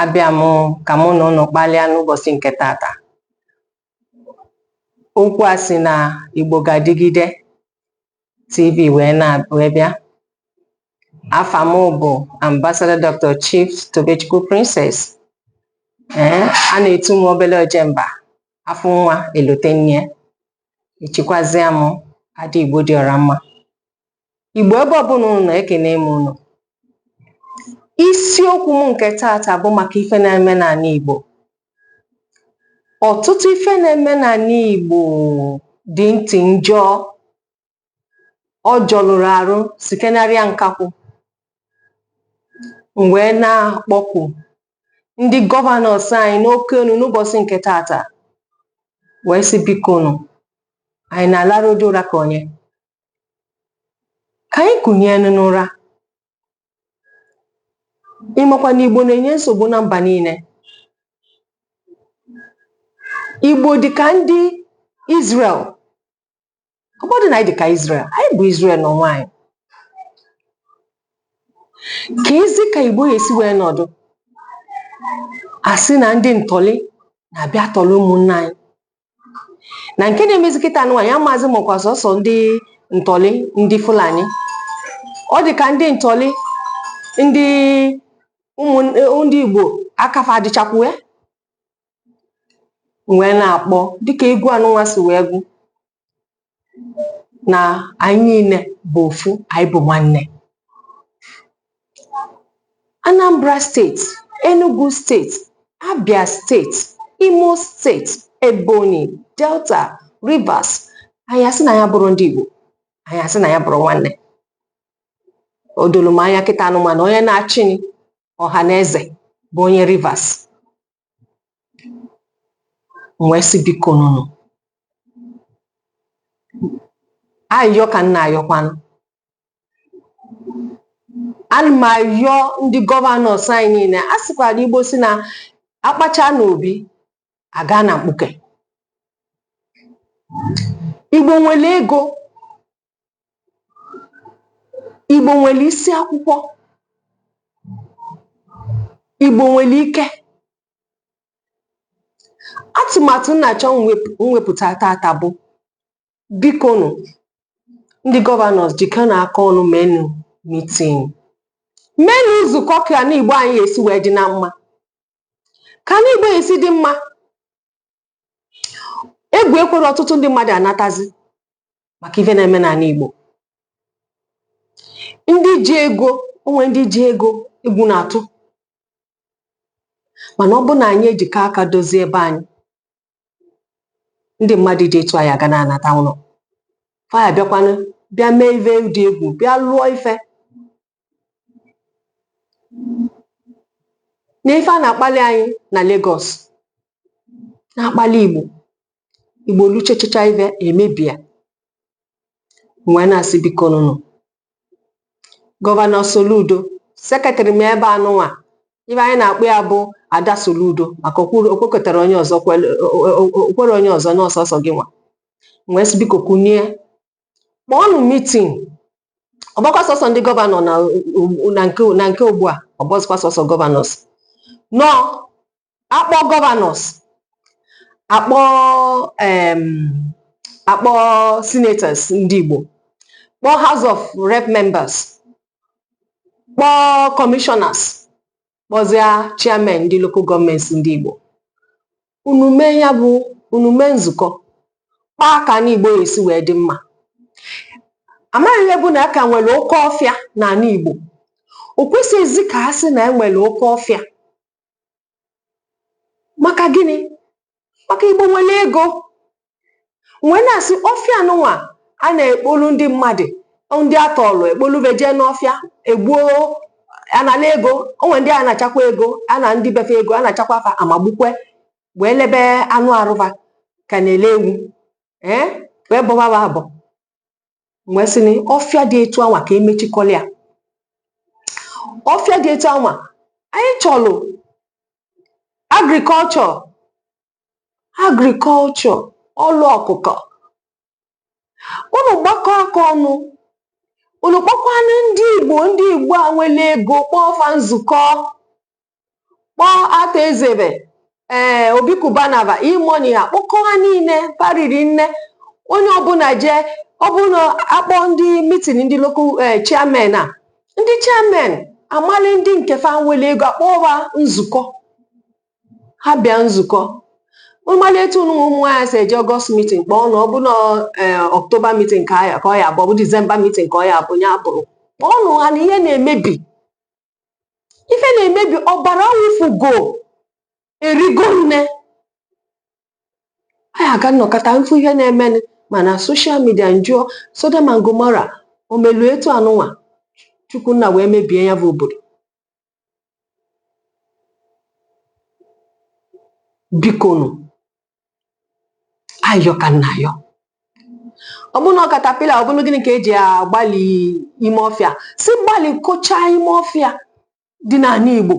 abịa m ka mụ na ụnụ kpalịa n'ụbọsị nke tata okwu a si na Igbo ga-adịgide TV wee na wee bịa afa m bụ Ambassador Dr. Chief Tobechukwu Princess ee a na-etu m obele ojemba afụ nwa elote nne echikwazịa m ada Igbo dị ọra mma Igbo ebe ọbụla unu nọ ekene m unu isiokwu m nke taata bụ maka ife na-eme n'anị Igbo ọtụtụ ife na-eme n'anị Igbo dị ntị njọ ọ jọlụrụ arụ sikenarịa nkakwụ m wee na-akpọku ndị gọvanọs anyị n'oke onu n'ụbọsị nke taata wee sị bikonụ anyị na-alarụ ụdị ụra ka onye ka anyị kunienụ n'ụra ị makwa na igbo na-enye nsogbu na mba niile igbo dị ka ndị Israel ọ bụrọ na anyị dị ka Israel anyị bụ Israel n'onwe anyị keezi ka igbo ya-esi wee nọdụ a sị na ndị ntọlị na-abịa atọlị ụmụnne anyị na nke na-emezi kịta nwa ya maazị makwa sọsọ ndị ntọlị ndị fulani ọ dị ka ndị ntọlị ndị ụmụ ndị igbo aka fa dịchakwu ya m wee na-akpọ dịka egwu anụnwa si wee gụ na anyị niile bụ ofu anyị bụ nwanne Anambra steeti Enugu steeti Abia steeti Imo steeti Ebonyi Delta Rivers anyị asị na anyị abụrọ ndị Igbo anyị asị na anyị abụrọ nwanne o doro m anya kịta nụnwa na onye na-achị Ọhaneze bụ onye Rivers wee sị bikonụnụ ayịyọ ka m na-ayọkwanụ ana m ayọ ndị gọvanọs anyị niile a sịkwara igbo sị na a kpachaa n'obi a gaa na mkpuke igbo nwere ego Igbo nwere isi akwụkwọ, Igbo nwere ike. Atụmatụ m na-achọ iwepụta tata bụ bikonu ndị gọvanọs jikọnụ aka ọnụ meenụ mitin, meenụ nzukọ ka anị Igbo anyị ya-esi wee dị na mma. Ka anị Igbo ya-esi dị mma, egwu ekwerọ ọtụtụ ndị mmadụ anatazi maka ife na-eme n'ala Igbo ndị ji ego o nwe ndị ji ego egwu na-atụ mana ọ bụ na anyị ejikọ aka dozie be anyị ndị mmadụ dị etu anyị aga na-anata ụlọ fa ya abịakwanụ bịa mee ife dị egwu bịa lụọ ife na ife a na-akpali anyị na Lagos na-akpali Igbo Igbo lụchachacha ife emebie wee na-asị biko nụnụ gọvanọ Soludo sekretarị m ebe anụnwa ife anyị na-akpọ ya bụ Ada Soludo maka o kwekọtarọ onye ọzọ o kwerọ onye ọzọ na ọ sọsọ gị nwa wee sị biko kunie kpọọnụ mitin ọ bụrọkwa sọsọ ndị gọvanọ na o- na nke na nke ugbu a ọ bụrọzikwa sọsọ gọvanọs nọ akpọ gọvanọs akpọ em, akpọ senators ndị Igbo kpọọ House of Rep members kpọọ commissioners kpọzie chairman ndị local gọọmenti ndị Igbo unu mee ya bụ unu mee nzukọ kpaa ka ana Igbo esi wee dị mma amaghị ihe bụ na a ka nwere oke ọfịa n'ala Igbo o kwesịghịzi ka a sị na e nwere oke ọfịa maka gịnị maka Igbo nwere ego wee na-asị ọfịa anụnwa a na-ekpolu ndị mmadụ ndị a tọọlụ ekpolu fa jee n'ọfịa egbuo anala ego o nwe ndị a nachakwa ego a naa ndị be fa ego a nachakwa fa amagbukwe wee lebe anụ arụ fa ka a na-ele ewu ee wee bọba fa abọ wee sị na ọfịa dị etu anwa ka emechikọlịa ọfịa dị etu anwa anyị chọlụ agrikọlchọ agrikọlchọ ọlụ ọkụkọ unu gbakọ aka ọnụ unu kpọkwanụ ndị igbo ndị igbo a nwere ego kpọọ fa nzukọ kpọọ Arthur Eze fa ee Obi Cubana fa E-Money ha kpọkọ ha niile pariri nne onye ọbụla jee ọ bụrụ na akpọ ndị mitin ndị lokal ee chairman a ndị chairman amali ndị nke fa nwere ego akpọọ ha nzukọ ha bịa nzukọ ị malụ etu ụnụnwa ụmụ nwaanyị si eje ọgọst mitin kpọọnụ ọ bụ na ọktoba mitin ka ya ka ọ ya abụ ọ bụ disemba mitin ka ọ ya abụ ya bụrụ kpọọnụ ha na ihe na-emebi ife na-emebi ọbara wụfugo erigo nne anyị aga m nọkata m fụ ihe na-emenụ ma na soshal midia m jụọ Sodom and Gomorrah o melu etu anụnwa chukwunna wee mebie ya bụ obodo bikonu ayọ ka m na-ayọ ọ bụrụ na ọ katapila ọ bụrụ gịnị ka eji agbali ime ọfịa si gbalikọcha ime ọfịa dị n'ala Igbo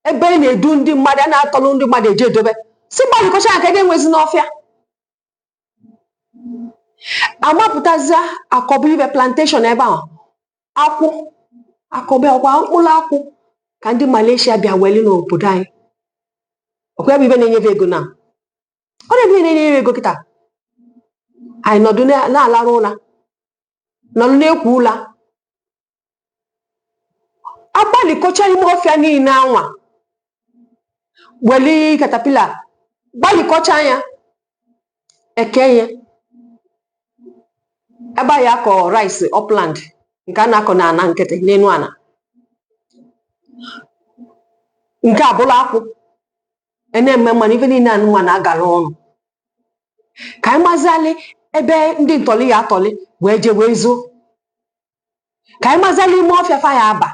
ebe a na-edu ndị mmadụ a na-atọrọ ndị mmadụ eji edobe si gbalikọcha nke na enwezina ọfịa amapụtazia akọba ife plantation ebe a akwụ akọba ọkwa mkpụrụ akwụ ka ndị Malaysia bịa weli n'obodo anyị ọkwa ya bụ ife na-enye ve ego na ọ nya bụ ife na-enye ve ego kịta anyị nọdụ na-alarụ ụla nọdụ na-ekwo ụla agbalikọcha ime ọfịa niile anwa weli katapila gbalikọcha ya eke ya ebe a ya akọ rice upland nke a na-akọ n'ala nkịtị n'elu ala nke abụla akwụ a na-eme mmanụ ife niile anụnwa na-agala ọnụ ka anyị mazialị ebe ndị ntọli ya atọli wee jee wee zoo ka anyị mazialị ime ọfịa fa ya aba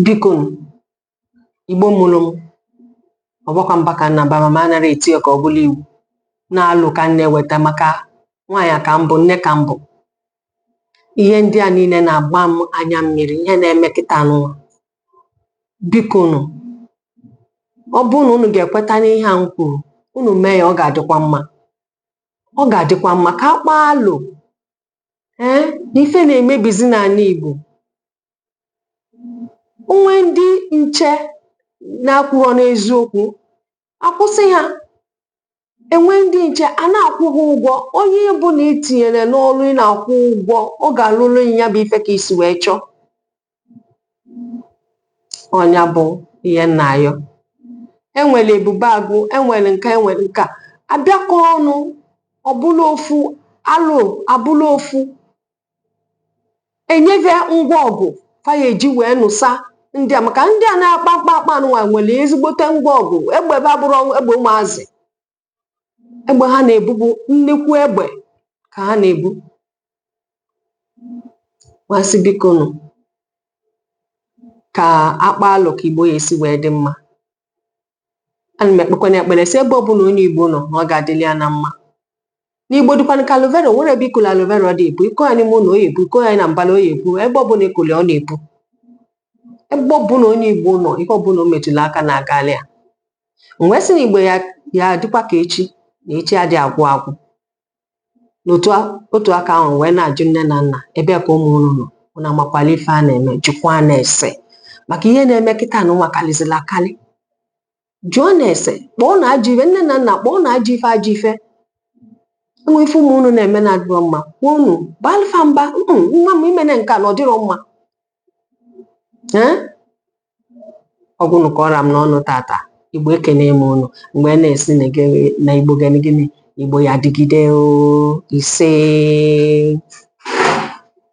bikonu igbo mụrụ m ọ bụrọkwa mba ka m na-aba ma anarọ m eti ya ka ọ bụlụ iwu na alo ka m na-eweta maka nwaanyị ka m bụ nne ka m bụ ihe ndị a niile na-agba m anya mmiri ihe na-eme kịta n'ụwa biko nụ ọ bụrụ na unu ga-ekweta n'ihe a m kwuru unu mee ya ọ ga-adịkwa mma ọ ga-adịkwa mma ka a kpaa alo ee na ife na-emebizi n'ala Igbo o nwee ndị nche na-akwụrọ n'eziokwu akwụsị ha e nwee ndị nche a na-akwụ ha ụgwọ onye ọbụna i tinyere n'ọrụ ị na-akwụ ụgwọ ọ ga-alụrụ gị ya bụ ife ka i si wee chọọ ọ nya bụ ihe m na-ayọ enwere ebube agụ enwere nke a enwere nke a abịakọ ọnụ abụla ofu alo abụla ofu enye ve ngwa ọgụ fa ya-eji wee nụsa ndị a maka ndị a na-akpa mkpamkpa anụnwa nwere ezigbote ngwa ọgụ egbe ve abụrọ egbe ụmụazị egbe ha na-ebu bụ nnekwu egbe ka ha na-ebu m asị biko nụ ka a kpaa alo ka igbo ya-esi wee dị mma ana m ekpekwana ekpere sị ebe ọbụla onye igbo nọ na ọ ga-adịlị ya na mma n'igbo dịkwanụ ka aloe vera o nwere ebe ị kụlụ aloe vera ọ dị ebu ị kọ ya n'ime ụlọ ọ ya-ebu ị kọ ya na mbala ọ ya-ebu ebe ọbụla ị kụlụ ọ na-ebu ebe ọbụla onye igbo nọ ihe ọbụla o metụla aka na-agalị ya m wee sị na igbo ya ya adịkwa ka echi na echi adị agwụ agwụ n'otu a- otu aka ahụ wee na-ajụ nne na nna ebe ka ụmụ unu nọ unu amakwala ife a na-eme jụkwanụ ese maka ihe na-eme kịta na ụwa karịzịla akarị jụọnụ ese kpọọnụ ajọ ife nne na nna kpọọnụ ajọ ife ajọ ife e nwee ife ụmụ unu na-eme na adịrọ mma kwuo unu baalụ fa mba "Mm, nwa m imene nke a na ọ dịrọ mma Ee? ọ bụnụ ka ọ ra m n'ọnụ tata igbo ekene m unu m wee na-asị na gị- na igbo gịnị gịnị igbo ya-adịgide o ise